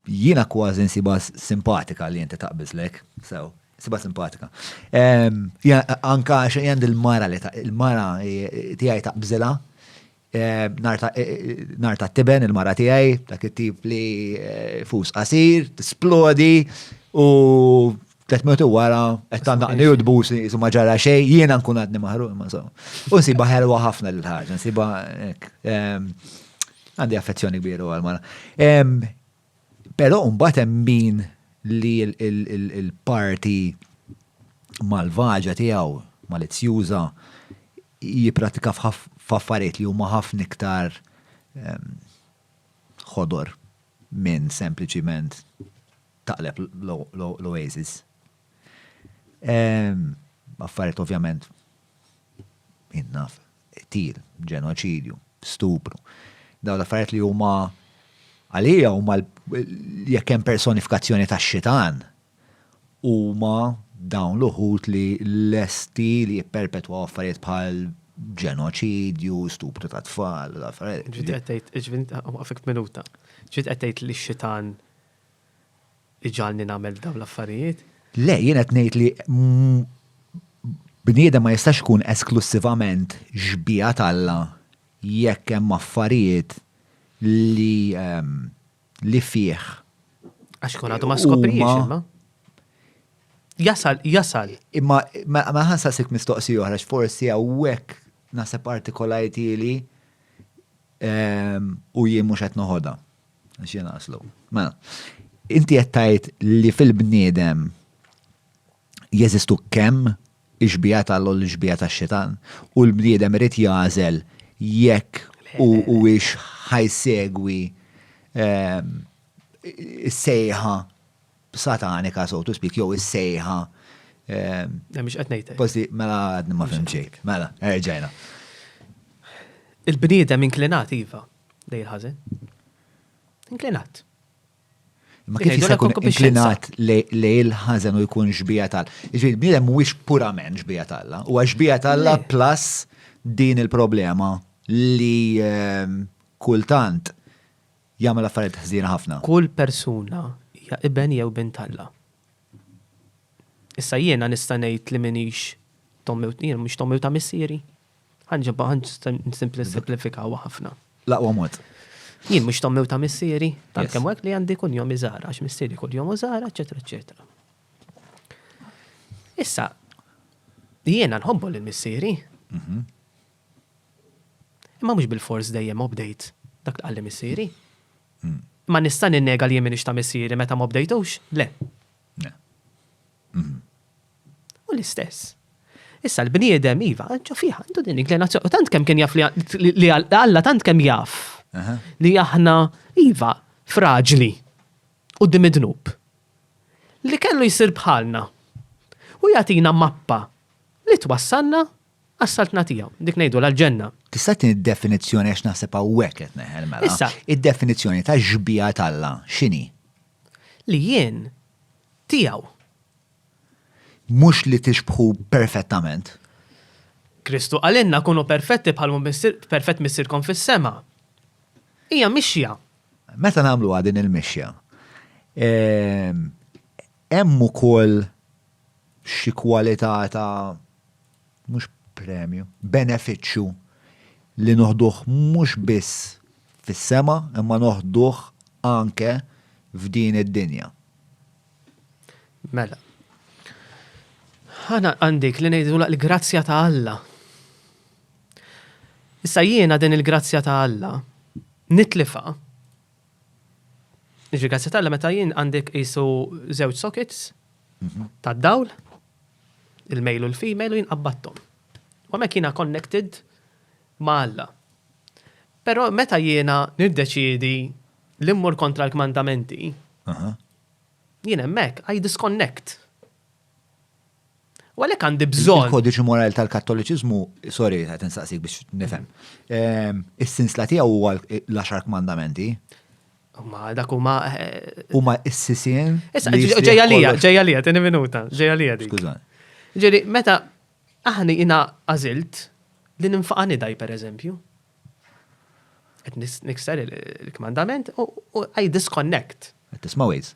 Jiena kważi nsibha simpatika li inti taqbiżlek, sew, nsibha simpatika. Anka għax jgħand il-mara li il-mara tiegħi taqbiżilha, nar ta' tiben il-mara tiegħi, dak it-tip li fus qasir, tisplodi u Tlet minuti wara, qed tandaqni u tbusi, isu ma ġara xej, jiena nkun għadni maħruq ma so. U nsiba ħelwa ħafna l-ħarġa, nsiba ehm, għandi affezzjoni kbira għal mara. Ehm, però mbagħad hemm min li l-parti malvaġa tiegħu, malizzjuża, jipratika f'affarijiet li huma ħafna iktar ehm, ħodor minn sempliċiment taqleb l-oasis. Affarijiet ovvjament jien naf, qtil, ġenoċidju, stupru. Dawn l-affarijiet li huma għalija huma jekk hemm personifikazzjoni tax-xitan huma dawn l-uħud li lesti li jipperpetwaw affarijiet bħal ġenoċidju, stupru ta' tfal, affarijiet. Ġiet qed tgħid, ġiet qed tgħid li x-xitan li ġalni nagħmel dawn l-affarijiet. Le, jien qed ngħid li bniedem ma jistax ikun esklussivament xbieha t'Alla jekk hemm affarijiet li ehm, li fih. Għax kun għadu ma skoprix imma. Jasal, jasal. Imma ma ħansasik mistoqsi oħra forsi hawnhekk naħseb partikolajti li ehm, u jien mhux qed noħodha. Xien aslu. Mela, inti qed tgħid li fil-bniedem jeżistu kemm ixbija tal u l-ixbija tax-xitan u l-bniedem irid jażel jekk u huwiex ħajsegwi ehm, is-sejħa satanika so to speak jew is-sejħa ehm, Mhix qed ngħidlek. Posti, mela għadni ma fimxejk. Mela, erġajna. Il-bniedem inklinat iva. Lejn il-ħażen. Inklinat. Ma kif jista' jkun inklinat li il-ħażen u jkun xbija tal. Iġifieri bniedem mhuwiex purament xbija talla, huwa xbija talla plus din il-problema li ehm, kultant jagħmel affarijiet ħżiena ħafna. Kull persuna hija iben jew bint talla. Issa jiena nista' ngħid li minix tommew tnir, mhux tommew ta' missieri. Ħanġibha ħan nisimplifikaw ħafna. L-aqwa mod. Jien mhux tommew ta' missieri, tal kemm hekk li għandi kun jom iżara, għax missieri kull jom użara, eċetera, eċetera. Issa, jiena nħobbu lil missieri. Mhm. Imma mhux bil-fors dejjem obdejt dak qalli missieri. Mm. Ma nista' ninnega li jien minix ta' missieri meta ma obdejtux? Le. Hu l-istess. Issa l-bniedem, iva, ġo fih għandu din l-inklinazzjoni. U tant kemm kien jaf li Alla tant kemm jaf li aħna, iva, fraġli u dim id-dnub. Li kellu jsir bħalna. U jagħtina mappa li twassalna għas-saltna tiegħu. Dik ngħidu l-ġenna. Tista' tin id-definizzjoni għax naħseb hawnhekk qed neħel mela. Issa. Id-definizzjoni ta' xbija t'Alla x'inhi? Li jien tiegħu. Mhux li tixbħu perfettament. Kristu qalilna, Kunu perfetti bħal hu perfett Missierkom fis-sema. Hija mixja. Meta nagħmluha din il-mixja, hemm ukoll xi kwalità ta' mhux premju, benefiċċju li noħduh mhux biss fis-sema imma noħduh anke f'din id-dinja. Mela. Ħana għandik li ngħidulha l-grazzja ta' Alla. Issa jiena din il-grazzja ta' Alla nitlifha Jiġri grazzi tal meta jien għandek jisu żewġ sockets mhm. tad-dawl, il-mejl u l-female u jien qabbattom. U mek jiena connected ma' Alla. Pero meta jiena nirdeċidi li mmur kontra l-kmandamenti, jien hemmhekk I disconnect. U għalhekk għandi bżonn. Il-kodiċi morali tal-Kattoliċiżmu, sorry, qed insaqsik biex nifhem. Ehm, is-sinsla tiegħu huwa l-għaxar kmandamenti. Ma dak huma. Eh, huma s-sisien. Issa, ġejja lija, ġejja lija, tieni minuta, ġejja lija dik. Skużan. Ġeri, meta aħna jina għażilt li ninfaqani daj per eżempju. Qed nikser il-kmandament u I disconnect. Qed tisma' ways.